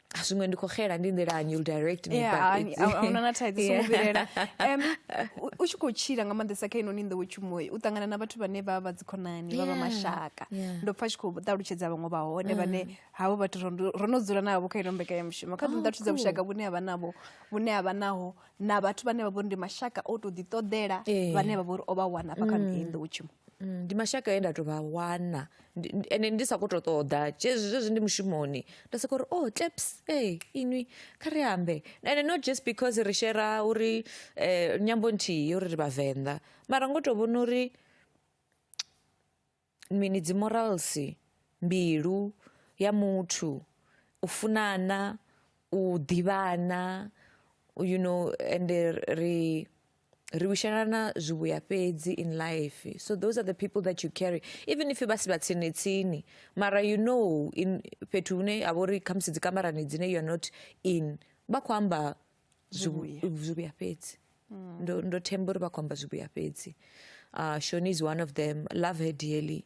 a zwiṅwe ndi kho xela ndi nḓilani you'll direct me yeah, back ani- a- ahuna na thaidzo songo vhilela Em, u- u tshi khou tshila nga maanḓesa kha inoni nḓowetshumoyi u ṱangana na vhathu vhane vha vha dzikhonani vha vha Yeah, mashaka yeah. Mm. ndo pfa tshi khou ṱalutshedza vhaṅwe vha hone vhane havho vhathu ro ndo- ro no dzula navho kha ino mbekanyamushumo kha Oh, ḓiḓa thusa cool. vhushaka vhune havha navho vhune havha naho na vhathu vhane vha vhori ndi mashaka o tou ḓiṱoḓela Eh. vhane vha vhori o vha wana hafha kha iyi nḓowetshumo Ndi mashaka e nda to vha wana ende ndi sa kho to ṱoḓa zwezwi ndi mushumoni nda soko uri oh taps ee inwi kha ri ambe ende not just because ri shera uri nyambo nthihi uri ri vhavenḓa mara ngo to vhona uri mini dzi morals mbilu ya muthu u funana u ḓivhana you know ende ri. ri vhushelana zwivhuya fhedzi in life so those are the people that you carry even if vha si vha tsini tsini mara you know in fhethu hune ha vha uri khamusi dzi kamarani dzine you are not in vha khou amba zwivhuya fhedzi mm. ndo, ndo themba uri vha khou amba zwivhuya fhedzi uh, shoni is one of them love her dearly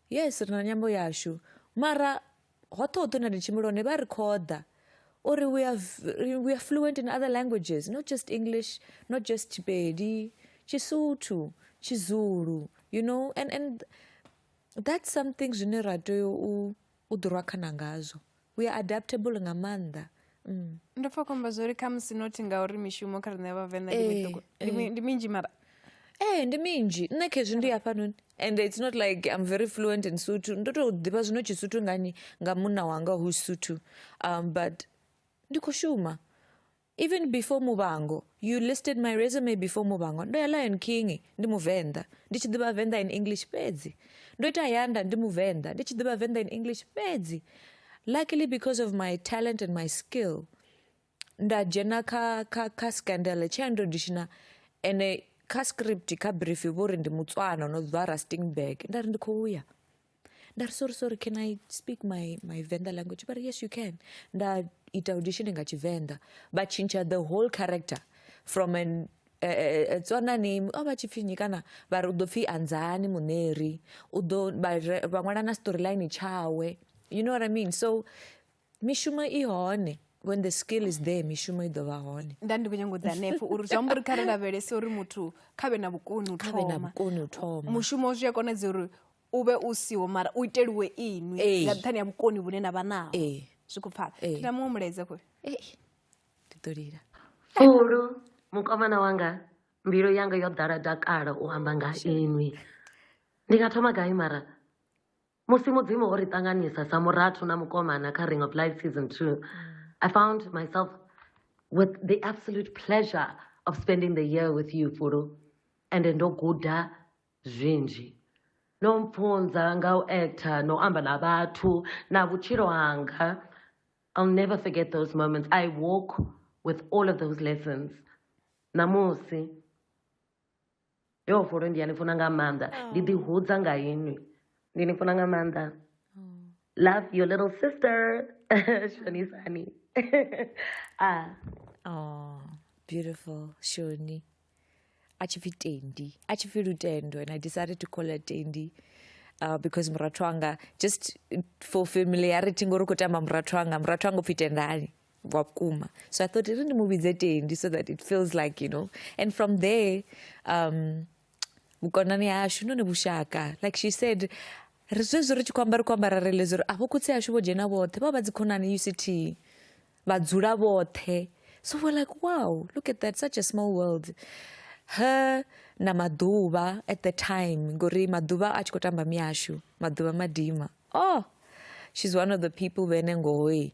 Yes ri na nyambo yashu mara hoṱhe hoṱhe hune ri tshimbila hone vha ri khoḓa uri we are, we are fluent in other languages not just english not just tshipedi tshisuthu tshizulu you know and, and that's something zwine ra tea u ḓirwa khana ngazwo we are adaptable nga maanḓa mm. ndo pfa khomba zwo ri khamusi nothi ngauri mishumo kha riṋe vhavenḓa ndi eh, miṱuku eh. ndi minzhi mara ee ndi minzhi nṋe khezwi ndi hafhanoni and it's not like i'm very fluent in suthu ndo tou ḓivha zwino tshisuthu ngani nga munna wanga who suthu um, but ndi khou shuma Even before Muvhango, you listed my resume before Muvhango. Ndo ya Lion King ndi Muvenḓa, ndi tshi ḓivha Venḓa in English fhedzi. Ndo ita Yanda ndi Muvenḓa, ndi tshi ḓivha Venḓa in English fhedzi. Luckily because of my talent and my skill, nda dzhena kha kha kha scandal tshe ndo dishina ene kha script kha brief vho ri ndi Mutswana no bva Rustenburg. Nda ri ndi khou ya. ndari sorry sorry can i speak my, my venda language but yes you can ndaita audition nga chivenḓa vachinja the whole character from an Eh, eh, eh, tswanani o vha tshi pfhi nyi kana vha ri u ḓo pfhi anzani muṋeri u ḓo vha ṅwala na storyline tshawe you know what i mean so mishumo i hone when the skill is there mishumo i ḓovha hone nda ndi khou nyanga u ḓa hanefho uri zwi amba uri kha ri lavhelese uri muthu kha vhe na vhukoni u thoma thoma mushumo zwi a konadzea uri u vhe u siho mara u iteliwe inwi nga nṱhani ha vhukoni vhune na vha naho zwi khou pfala ndi na muṅwe mulaedza kho ndi ḓo lila fulu mukomana wanga mbilu yanga yo ḓala dakala u amba nga inwi ndi nga thoma gai mara Musi Mudzimu o ri ṱanganisa sa murathu na mukomana kha Ring of Light Season 2, mm. I found myself with the absolute pleasure of spending the year with you, Fulu. And ndo guda zwinzhi. No mfunza nga u actor, no amba na vhathu, na vutshilo hanga. I'll never forget those moments. I walk with all of those lessons. Namusi, yo fholo ndi a ni funa nga maanḓa ndi ḓi hudza nga inwi ndi ni funa nga maanḓa love your little sister shonisani ah oh beautiful shoni a tshi pfi tendi a tshi pfi lutendo and i decided to call her tendi uh, because murathu wanga just for familiarity ngori u khou tamba murathu wanga murathu wanga u pfi tendani wa vhukuma so i thought ri ndi mu vhidze tendi so that it feels like you know and from there um vhukonani hashu none vhushaka like she said ri zwezwi ri tshi khou amba ri khou amba ra realize uri avho khotsi ashu vho dzhena vhoṱhe vha vha dzi khonani uct vha dzula vhoṱhe so we're like wow look at that such a small world her na maḓuvha at the time ngori maḓuvha a tshi khou tamba miyashu maḓuvha madima oh she's one of the people vhene ngohoi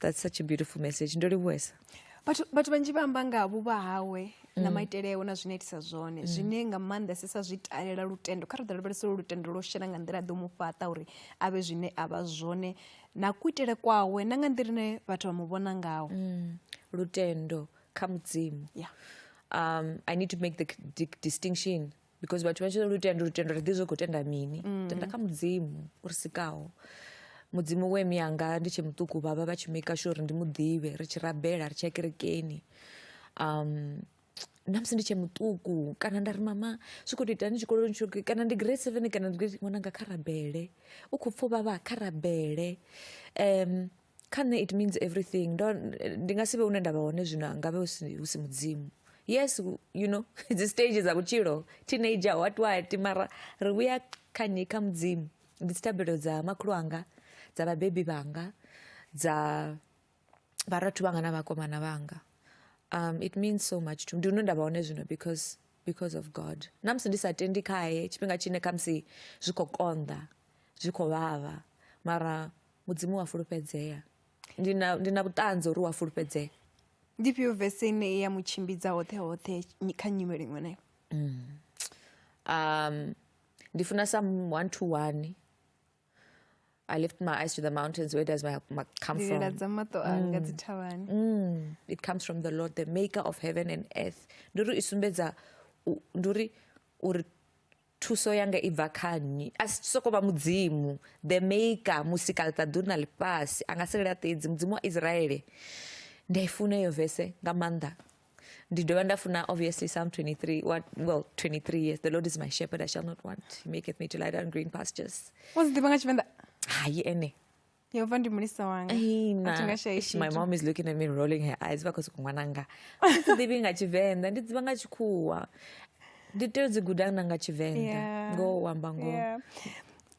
that's such a beautiful message ndo livhuwesa vhathu vhathu vhanzhi vha amba nga vhuvha hawe na mm. maitele awe na zwine itisa zwone mm. zwine nga maanḓesesa zwi talela lutendo kha ri ḓo lavhelesa uri lutendo lwo shela nga nḓila ḓo mu fhaṱa uri a vhe zwine a vha zwone na kuitele kwawe na nga nḓila ine vhathu vha mu vhona ngawo mm. lutendo kha mudzimu um, i need to make the distinction because vhathu vha tshi lutendo lutendo ri ḓi zwi khou tenda mini mm. tenda kha mudzimu o ri sikaho mudzimu we miyanga ndi tshe muṱuku vhavha vha tshi maker sure uri ndi mu ḓivhe ri tshi rabela ri tshi ya kerekeni um na musi ndi tshe muṱuku kana nda ri mama zwi khou to itani tshikoloni tsho kana ndi grade seven kana ndi grade ṅwananga kha rabele u khou pfa u vhavha kha rabele um kha nṋe it means everything ndo ndi nga si vhe hune nda vha hone zwino ngavhe hu si hu si mudzimu yes you know dzi stage dza vhutshilo teenager what what mara ri vhuya kha nnyi kha mudzimu ndi dzi thabelo dza makhulu anga dza vhabebi vhanga dza vharathu vhanga na vhakomana vhanga um it means so much to me ndi hune nda vha hone zwino because because of god na musi ndi sa tendi khaye tshifhinga tshine khamusi zwi khou konḓa zwi khou vhavha mara Mudzimu wa fulufhedzea. Ndi na, ndi na vhuṱanzi uri wa fulufhedzea. Ndi fhio vese ine i ya mu tshimbidza hoṱhe hoṱhe kha nyimele iṅwe nayo? Mm. Um, ndi funa sa one to one I lift my eyes to the mountains. Where does my, my come from? Mm. Mm. It comes from the Lord, the maker of heaven and earth. Nduri isumbedza nduri uri Thuso yanga i bva kha nnyi? A si sokou vha Mudzimu, the Maker, Musikaḽiṱaḓulu na ḽifhasi, a nga si laṱedzi, Mudzimu wa Israele. Ndi a i funa iyo vese nga maanḓa. Ndi dovha nda funa obviously Psalm 23, what, well, 23 yes, the Lord is my shepherd, I shall not want. He maketh me to lie down green pastures. U dzi ḓivha nga Tshivenḓa? Hai ene. Yo vha ndi mulisa wanga. Ai, na. A thi nga shayi Eish, my tshithu. mom is looking at me rolling her eyes vha khou sokou ṅwananga a thi ḓivhi nga tshivenḓa ndi ḓivha nga tshikhuwa ndi tea u dzi guda na nga tshivenḓa Yeah. ngoho u amba ngoho Yeah.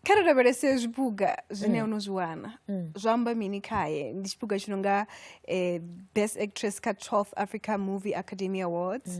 kha ri lavhelese zwipuga zwine o no zwi wana zwo amba mini khaye ndi tshipuga tshi no nga eh, best actress kha 12th africa movie academy awards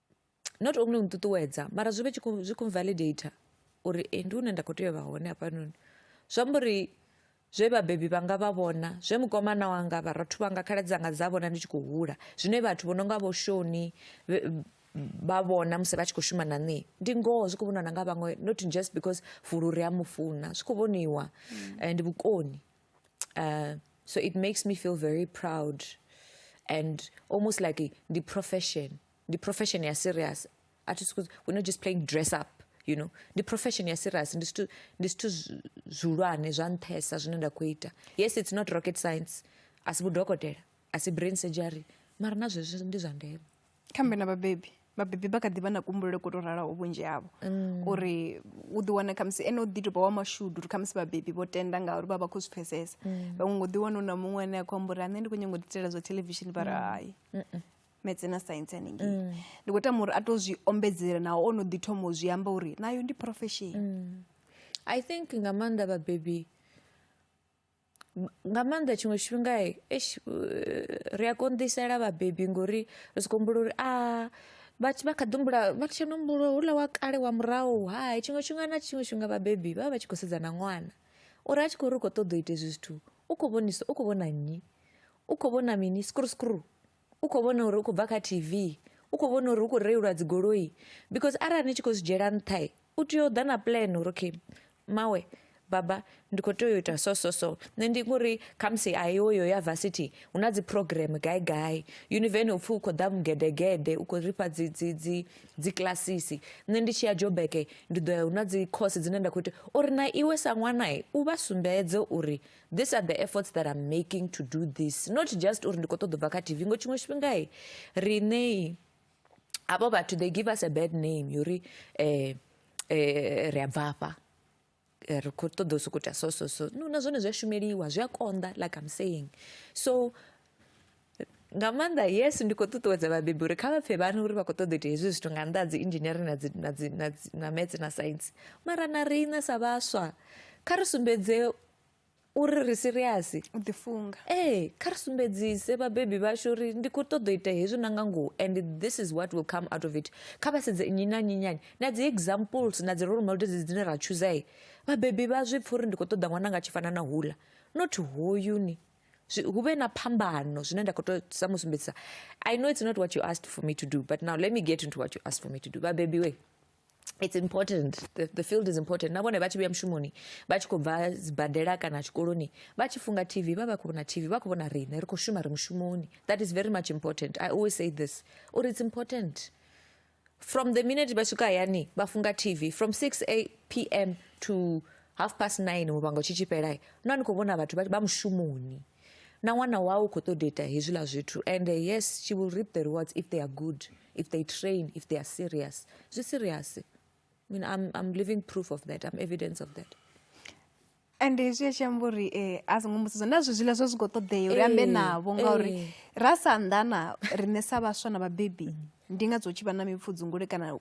not only u nṱuṱuwedza mara zwi vhe zwi khou validate uri e ndi hune nda khou tea u vha hone hafhanoni zwi amba uri zwe vhabebi vhanga vha vhona zwe mukomana wanga vharathu vhanga khaladzi dzanga dza vhona ndi tshi khou hula zwine vhathu vho no nga vho shoni vha vhona musi vha tshi khou shuma na nṋe ndi ngoho zwi khou vhoniwa na nga vhaṅwe not just because fulu ri a mu funa zwi khou vhoniwa mm. eh, ndi vhukoni uh, so it makes me feel very proud and almost like the profession the profession is serious at school we're not just playing dress up you know the profession is serious ndi zwithu ndi zwithu zwi- zwihulwane zwa nṱhesa zwine nda khou ita yes it's not rocket science asi vhudokotela asi brain surgery mara na zwezwo ndi zwa ndeme khambe na vhabebi vhabebi vha kha ḓi vha na kumbulele ko to ralaho vhunzhi havho mm. uri u ḓi wana khamusi ene u ḓi tou vha wa mashudu uri khamusi vhabebi vho tenda ngauri vha vha khou zwi pfesesa mm. vhaṅwe ngo ḓi wana u na muṅwe ane a khou amba uri ane ndi khou nyanga u ḓitela zwa thelevishini vha ri mm. hai metse na science haningei ndi khou tama uri a tou zwi ombedzela naho o no ḓi thoma u zwi amba uri nayo ndi profession i think nga maanḓa vhabebi nga maanḓa tshiṅwe tshifhinga eish ri a konḓisela vhabebi ngori ri soko humbula uri a vha vha kha ḓi humbula vha tshi no humbula houḽa wa kale wa murahu hai tshiṅwe tshifhinga na tshiṅwe tshifhinga vhabebi vha vha vha tshi khou sedza na ṅwana uri a tshi khou ri u kho ṱoḓa u ita hezwi zwithu u kho vhonisa u kho vhona nnyi u kho vhona mini skruskruu. u kho vhona uri u khou bva kha T_V u kho vhona uri hu kho reiliwa dzi goloi because arali ni tshi khou zwi dzhiela nṱha u tea u ḓa na puḽene uri okay mmawe baba ndi kho tea u ita so so so nṋe ndi ngori khamusi a yo yo ya varsity hu na dzi program gai gai univeni upfhi u khou ḓa mugedegede u khou ri fha dzi dzi dzi dzi kilasisi nṋe ndi tshi ya jobeke ndi ḓo ya hu na dzi course dzine nda khou ita uri na iwe sa ṅwana u vha sumbedze uri these are the efforts that i'm making to do this not just uri ndi khou ṱoḓa u bva kha tv ngo tshiṅwe tshifhingai riṋei avho vhathu they give us a bad name yori um eh, eh, ri a bva afha eh, ri khou ṱoḓa u sokou ita so so so no na zwone zwi a shumeliwa zwi a konḓa like i'm saying so nga maanḓa yes ndi khou ṱuṱuwedza vhabebi uri kha vha pfhe vhana uri vha khou ṱoḓa ita hezwi zwithu nga nnḓa dzi engineering na dzi na dzi na dzi na maths na science mara na riṋe sa vhaswa kha ri sumbedze uri ri serious u ḓi funga ee kha ri sumbedzise vhabebi vhashu uri ndi khou ṱoḓa ita hezwi na nga ngoho and this is what will come out of it kha vha sedze nnyi na nnyi nyani na dzi examples na dzi role models dzine ra chooser vhabebi vha zwi pfha uri ndi khou ṱoḓa ṅwana nga tshi fana na hula not hoyuni zwi- hu vhe na phambano zwine nda khou to sa mu sumbedzisa i know it's not what you asked for me to do but now let me get into what you asked for me to do vhabebi we it's important the, the field is important na vhone vha tshi vhuya mushumoni vha tshi khou bva sibadela kana tshikoloni vha tshi funga tv vha vha khou vhona tv vha khou vhona riṋe ri khou shuma ri mushumoni that is very much important i always say this uri it's important from the minute vha swika hayani vha funga tv from 6 a pm to half past 9 muvhango tshi tshifhela no ni khou vhona vhathu vha mushumoni na ṅwana wau u khou ṱoḓa ita hezwiḽa zwithu and eh, yes she will reap the rewards if they are good if they train if they are serious zwi serious I mean, I'm, I'm living proof of that i'm evidence of that and hezwi a tshi amba uri um a songo mbudziso na zwi zwiḽa zwo zwi khou ṱoḓea uri ambe navho ngauri ra sa anḓana riṋe sa vhaswa na vhabebi mm. ndi nga dzo tshi vha na mipfudzungule kana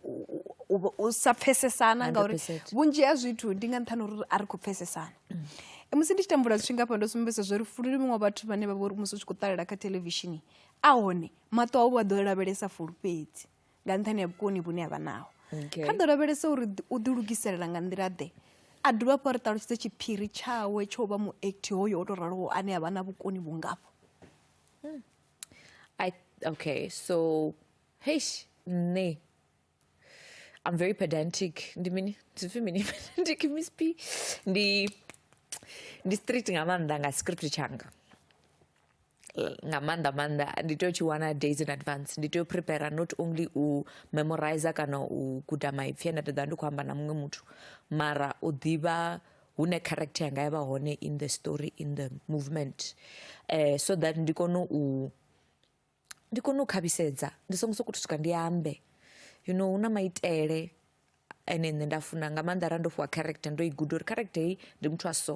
u sa pfesesana ngauri vhunzhi ha zwithu ndi nga nṱhani uri a ri khou pfesesana mm. e, musi ndi tshi tambula zwithu ngafha ndo sumbedza zwo ri fulu muṅwe vhathu vhane vha vha uri musi u tshi khou ṱalela kha thelevishini a hone maṱo a u vha ḓo lavhelesa fulu fhedzi nga nṱhani ha vhukoni vhune a vha naho kha ḓo lavhelesa uri u ḓilugiselela nga nḓila ḓe a dovha hafhu a ri ṱalutshedze tshiphiri tshawe tsho vha muekthi hoyo o tou raloho ane a vha na vhukoni vhungafho hmm. okay so heish nṋe i'm very pedantic ndi mini zwipfi mini pedantic miss p ndi ndi street nga maanḓa nga script tshanga nga maanḓa maanḓa ndi tea u tshi wana days in advance ndi tea u prepare not only u memorizer kana u guda maipfi ane nda ḓovha ndi khou amba na muṅwe muthu mara u ḓivha hune character yanga ya vha hone in the story in the movement um so that ndi kone u ndi kone u khavhisedza ndi songo sokou swika ndi ambe you know hu na maitele ene nṋe nda funa nga maanḓa arali ndo fhiwa character ndo i guda uri character heyi ndi muthu wa so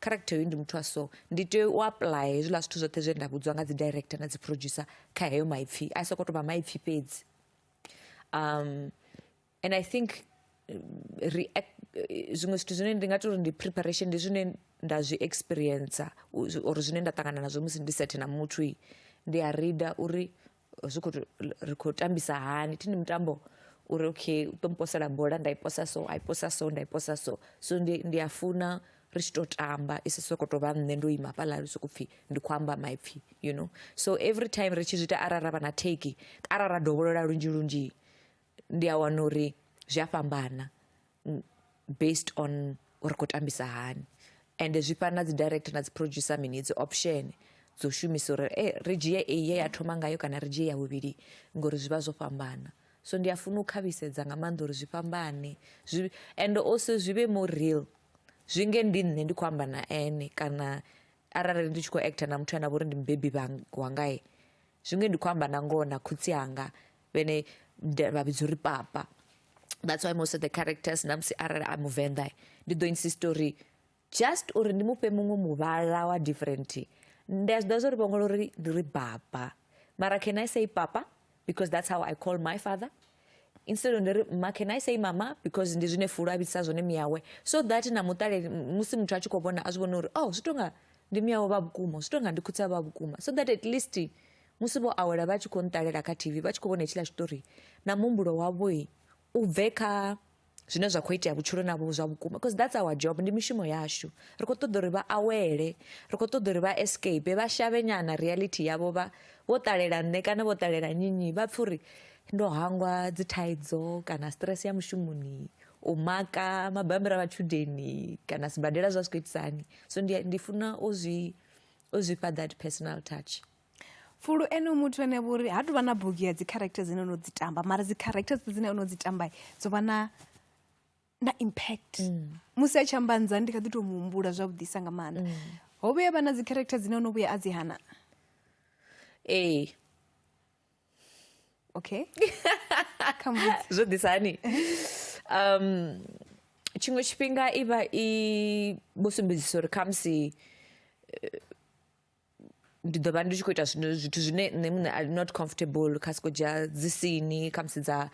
character heyi ndi muthu wa so ndi tea u apuḽaya hezwiḽa zwithu zwoṱhe zwe nda vhudziwa nga dzi director na dzi producer kha heyo maipfhi a soko to vha maipfhi fhedzi um and i think react zwiṅwe zwithu zwine ndi nga tori ndi preparation ndi zwine nda zwi experiencer or zwine nda ṱangana nazwo musi ndi sethe na muthu ndi a reader uri zwi khou ri khou tambisa hani thi ndi mutambo uri okay u ṱo mposela bola nda i posa so a i posa so nda i posa so so ndi ndi a funa ri tshi tou tamba i si sokou tou vha nṋe ndo ima fhaḽa ri sokou pfhi ndi khou amba maipfhi you know so every time ri tshi zwi ita arali ra vha na theki arali ra dovholola lunzhi lunzhi ndi a wana uri zwi a fhambana based on uri khou tambisa hani ende zwi fana na dzi director na dzi producer mini dzi option dzo shumisa uri e ri dzhie eyi ye ya thoma ngayo kana ri dzhie ya vhuvhili ngori zwi vha zwo fhambana so ndi a funa u khavhisedza nga maanḓa uri zwi fhambane zwi ende also zwi vhe more real zwi nge ndi nṋe ndi khou amba na ene kana arali ndi tshi khou actor na muthu ane a vha uri ndi mubebi wangae zwi nge ndi khou amba na ngoho na khotsi anga vhene vha vhidza uri papa that's why most of the characters na musi arali a muvenḓa ndi ḓo insist uri just uri ndi mufhe muṅwe muvhala wa different ndi a zwi ḓa zwo ri vhongola uri ndi ri baba mara can i say papa because that's how i call my father instead ndi ri ma can i say mama because ndi zwine fulo a vhidisa zwone miyawe so that na muṱaleli musi muthu a tshi khou vhona a zwi vhona uri oh zwi tonga ndi miyawe vha vhukuma zwi tonga ndi khutsa vha vhukuma so that at least Musi vho awela vha tshi khou nṱalela kha T_V vha tshi khou vhona hetshiḽa tshiṱori na muhumbulo wavho u bve kha zwine zwa kho itea vhutshiloni havho zwa vhukuma because that's our job ndi mishumo yashu ri kho ṱoḓa uri vha awele ri kho ṱoḓa uri vha escape vha shavhe nyana reality yavho vha vho ṱalela nṋe kana vho ṱalela nyinyi vha pfha uri ndo hangwa dzi thaidzo kana stress ya mushumoni u maka mabambiri a matshudeni kana sibadela zwa zwi khou itisani so ndi ndi funa u zwi u zwi fha that personal touch fulu ene muthu ane vha uri ha tuvha na bugu ya dzi character dzine ono dzi tamba mara dzi character dzine ono dzi tamba dzo vha na na impact mm. musi a tshi amba nza ndi kha ḓi to muhumbula zwavhuḓisa nga maanḓa mm. ho vhuya vha na dzi character dzine ono vhuya a dzi hana ee okay zwo ḓisa hani um tshiṅwe tshifhinga i vha i vho sumbedzisa uri khamusi eh, ndi ḓo vha ndi tshi khou ita zwino zwithu zwine nṋe muṋe I not comfortable kha sokou dzhia dzi sini khamusi dza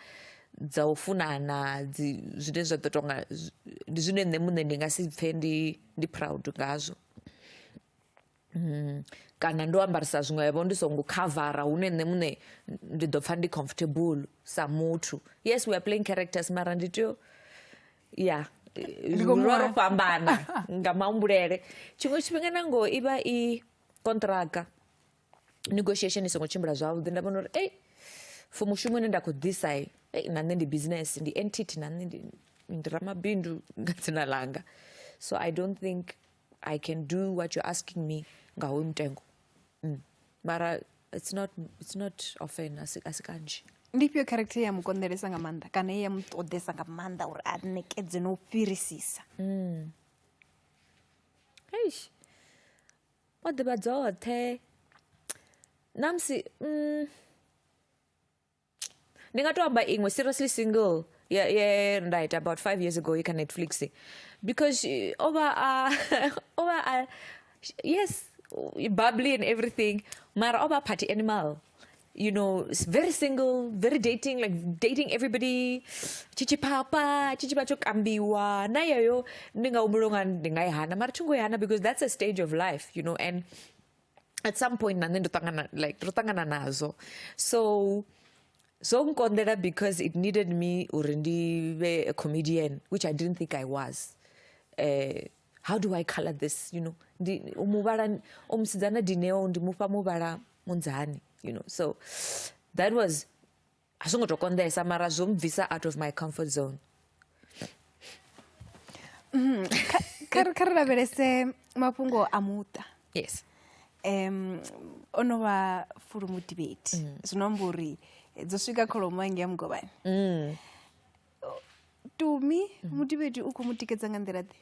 dza u funana dzi zwine zwa ḓo tonga ndi zwine nṋe muṋe ndi nga si pfhe ndi ndi proud ngazwo kana ndo ambarisa zwiṅwevho ndi songo khavara hune nṋe muṋe ndi ḓo pfha ndi comfortable sa muthu yes we are playing characters mara ndi tea u ya Ndi khou mu ro wana. fhambana nga mahumbulele tshiṅwe tshifhinga na ngoho i vha i kontraka negotiation i songo tshimbila zwavhuḓi nda vhona uri ei for mushumo une nda khou ḓisa ei, ei na nṋe ndi business ndi entity na nṋe ndi ndi ramabindu nga dzina langa so i don't think i can do what you're asking me nga hoyu mutengo mm. mara it's not, it's not often asi kanzhi ndi ifhio character ya mu konḓelesa nga maanḓa kana ye ya mu ṱoḓesa nga maanḓa uri a ṋekedze no u fhirisisa mm. eish o ḓivha dzoṱhe namusi mm, ndi nga to amba iṅwe seriously single ye ye nda ita about five years ago i kha netflix because eh, o vha a o vha a yes bubbly and everything mara o vha a party animal you know s- very single very dating like dating everybody chichipapa chichipa tsho kambiwa na yeyo ndi nga humbula unga ndi nga i hana mara thi ngo i hana because that's a stage of life you know and at some point na nṋe ndo ṱangana like ro ṱangana nazwo so zwo nkonḓela because it needed me uri ndi vhe a comedian which i didn't think i was uh, how do i color this you know ndi muvhala o musidzana dineo ndi mufha muvhala munzani you know so that was a zwo ngo to konḓesa mara zwo mbvisa out of my comfort zone mm, kha ri lavhelese mafhungo a muṱa yes um o no vha fulu mudibeti mm. zwi no amba uri dzo swika kholomo ange ya mugovhani mm. tumi mm. mudibeti u khou mu tikedza nga nḓila ḓe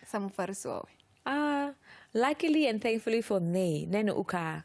sa mufarisi wawe ah luckily and thankfully for me nene u kha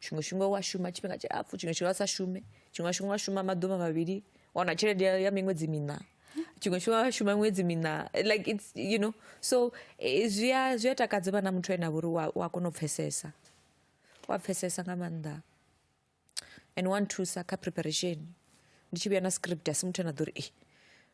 tshiṅwe tshifhinga wa shuma tshifhinga tshilapfhu tshiṅwe tshifhinga wa sa shume tshiṅwe tshifhinga wa shuma maḓuvha mavhili wana tshelede ya miṅwedzi miṋa tshiṅwe tshifhinga wa shuma miṅwedzi miṋa like its you know so eh, zwi a zwi a takadza vha na muthu ane a vha uri wa kona u pfhesesa wa pfhesesa nga maanḓa and wa nthusa kha preparation ndi tshi vhuya na script a si muthu ane a ḓo ri e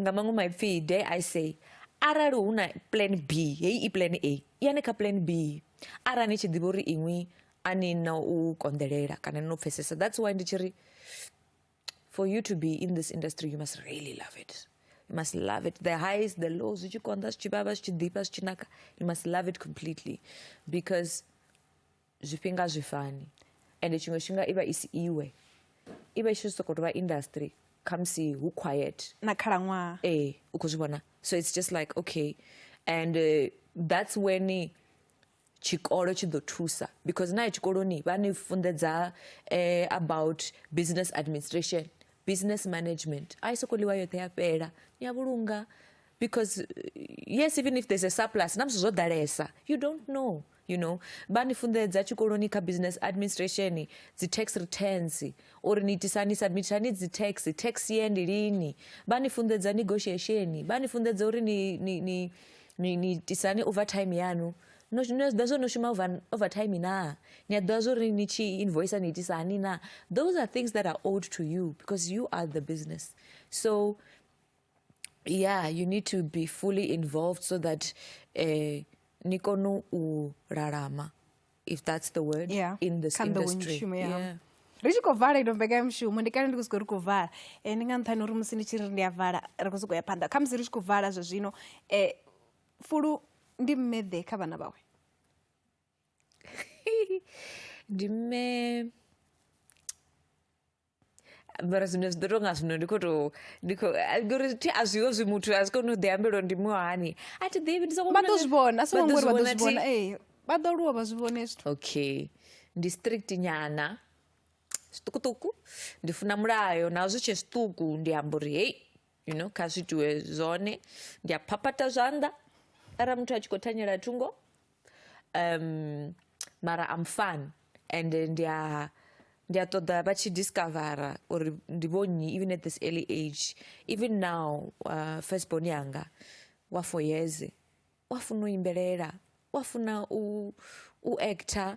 nga maṅwe maipfi dare i say arali hu na plan b heyi i plan a yani kha plan b arali ni tshi ḓivha uri iṅwi a ni na u konḓelela kana ni no pfhesesa that's why ndi tshi ri for you to be in this industry you must really love it you must love it the highs the lows zwi tshi konḓa zwi tshi vhavha zwi tshi ḓifha zwi tshi naka you must love it completely because zwifhinga a zwi fani ende tshiṅwe tshifhinga i vha i si iwe i vha i tshi sokou tou vha industry khamusi hu quiet na khalaṅwaha ee u khou zwi vhona so it's just like okay and uh, that's when tshikolo tshi ḓo thusa because naye tshikoloni vha ni funḓedza eh, about business administration business management a i sokou ḽiwa yoṱhe ya fhela ni a vhulunga because yes even if there's a surplus na musi zwo ḓalesa you don't know you know vha ni funḓedza tshikoloni kha business administration dzi tax returns uri ni itisa ni submit hani dzi tax tax ye ndi lini vha ni funḓedza negotiation vha ni funḓedza uri ni ni ni ni, ni tisani overtime yanu no no ḓa zwo no shuma over overtime na ni a ḓa zwo ri ni tshi invoice ni itisa hani na those are things that are owed to you because you are the business so yeah you need to be fully involved so that uh, ni kone u lalama if that's the word yeah. in this Can industry the yeah. Yeah. ri tshi khou vala ino mbekanyamushumo ndi kale ndi khou sokou ri khou vala um ndi nga nṱhani uri musi ndi tshi ri ndi a vala ri khou sokou ya phanḓa kha musi ri tshi khou vala zwa zwino um fulu ndi mmeḓe kha vhana vhawe ndi mme mara zwine zwi ḓo tou nga zwino ndi khou tou ndi khou a- ngori thi a zwiho zwi muthu a zwi koni u ḓi ambela uri ndi muhani a thi ḓivhi ndi sokou vha ḓo vhona- zwi vhona a songo vha ḓo ngori vha ḓo zwi thi- vhona ee vha ḓo aluwa vha zwi vhone zwithu okay ndi strict nyana zwiṱukuṱuku ndi funa mulayo naho zwi tshe zwiṱuku ndi amba uri hei you know kha zwi itiwe zwone ndi a phaphatha zwanḓa arali muthu a tshi khou thanyela thungo um mara I'm fun and ndi a ndi a ṱoḓa vha tshi discovera uri ndi vho nnyi even at this early age even now uh, first born yanga wa four years wa funa u imbelela wa funa u, u actor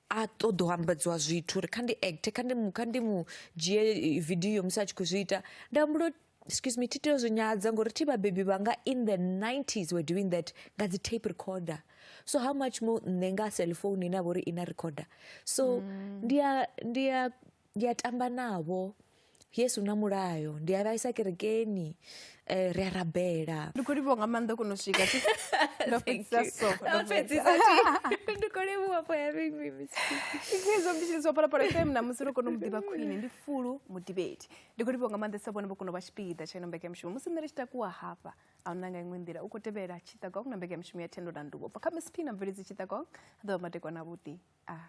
a ṱoḓa u ambedziwa zwithu uri kha ndi act kha ndi kha ndi mu dzhie eh, video musi a tshi khou zwi ita nda humbula excuse me thi tea zwi nyadza ngori thi vhabebi vhanga in the 90s were doing that nga dzi tape recorder so how much more nṋe nga cellphone ine a vha uri i na recorder so mm. ndi a ndi a ndi a tamba navho yesu na mulayo ndi a vhaisa kerekeni um ri a rabela ndi khou livhiwa nga maanḓa kono swika ndo fhedzisa so ndi khou livhiwa for having me misizo mbishiliswa phalaphala fm na musi ro kona u mu ḓivha khwine ndi fulu mudivheti ndi khou livhiwa nga maanḓa sa vhone vho kona u vha tshipiḓa tsha ino mbeke ya mushumo musi nṋe ri tshi takuwa hafha a huna nga iṅwe nḓila u khou tevhela tshiṱakong na mbeke ya mushumo ya thendo na nduvo bva kha msp na mveledzi tshiṱakong a ḓovha matekwana vhuḓi a ah.